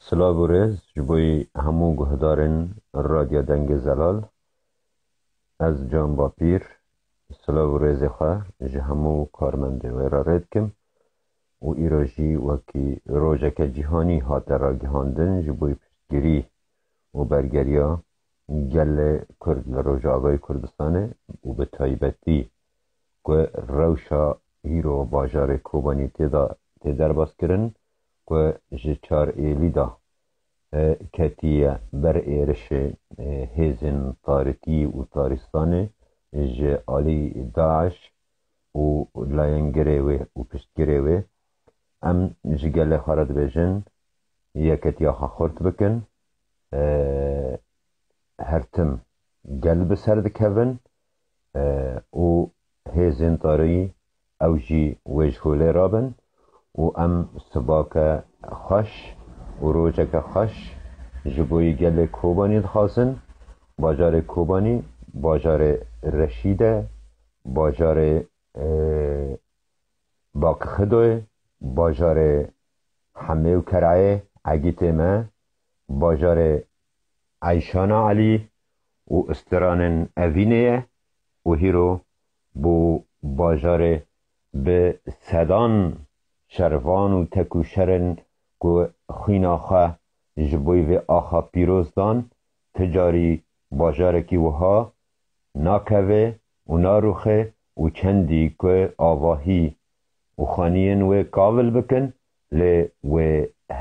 Silav û rêz ji bo hemû guhdarên Radya Dengê Zelal. Ez Can Bapîr silav û rêzê xwe ji hemû karmendê wê re rê dikim û îro jî wekî rojeke cîhanî hate ragihandin ji bo piştgirî û bergeriya gelê Kurd li Rojavayê Kurdistanê û bi taybetî ku rewşa îro bajarê Kobanî tê de tê derbas kirin. ku ji çar Êlî da ketiye ber êrişê hêzên Tarikî û Taristanê ji alî DAIŞ û layengirê wê û piştgirê wê, em ji gelê xwe re dibêjin yeketiya xwe xurt bikin, her tim gel bi ser dikevin û hêzên tariyî Ew jî wê ji holê re bin û em sibake xweş û rojeke xweş ji bo yê gelê Kobanî dixwazin. Bajarê Kobanî bajarê reşîd e, bajarê Bakixido ye, bajarê Hemê û Kereyê Egîtê me, bajarê Eyşana Elî û istiranên Evînê ye û hîro Bo bajarê bi sedan şervan û tekûşerin ku xwîna xwe ji bo vê axa pîroz dan, ti carî bajarekî wiha nakeve û naruxe û çendî ku avahî û xaniyên wê kavil bikin lê wê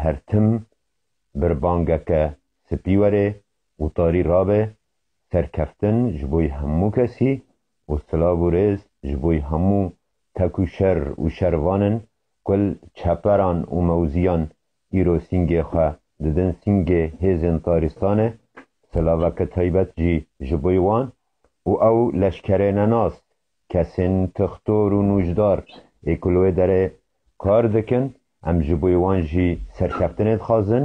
her tim birbangeke spî were Wtarî rabe serkeftin ji boî hemû kesî û silav û rêz ji boî hemû tek û şer û şervanin ku li çeperan û mewzîyan îro sîngê xwe didin sîngê hêzên taristanê, silaveke taybet jî ji boî wan û ew leşkerê nenas, kesên tixtor û nûcdar ê ku li wê derê kar dikin, em ji boî wan jî serkeftinê dixwazin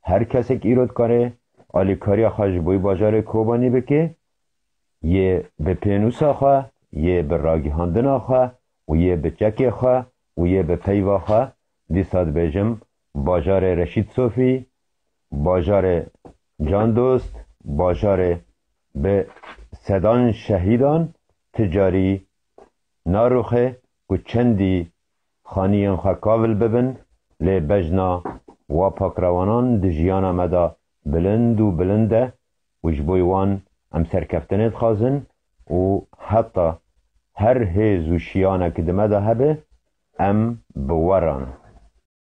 Her kesek îro dikare alîkariya xwe ji boî bajarê Kobanî bike, yê bi pênûsa xwe, yê bi ragihandina xwe û yê bi çekê xwe û yê bi peyva xwe, dîsa dibêjim bajarê Reşîd Sofî, bajarê Can Dost, bajarê bi sedan şehîdan ti carî narûxe ku çendî Xaniyên xwe kavil bibin, lê bejna wa pakrewanan di jiyana me de bilind û bilind e û ji bo wan em serkeftinê dixwazin û heta her hêz û şiyanekî di me de hebe em bi we re ne.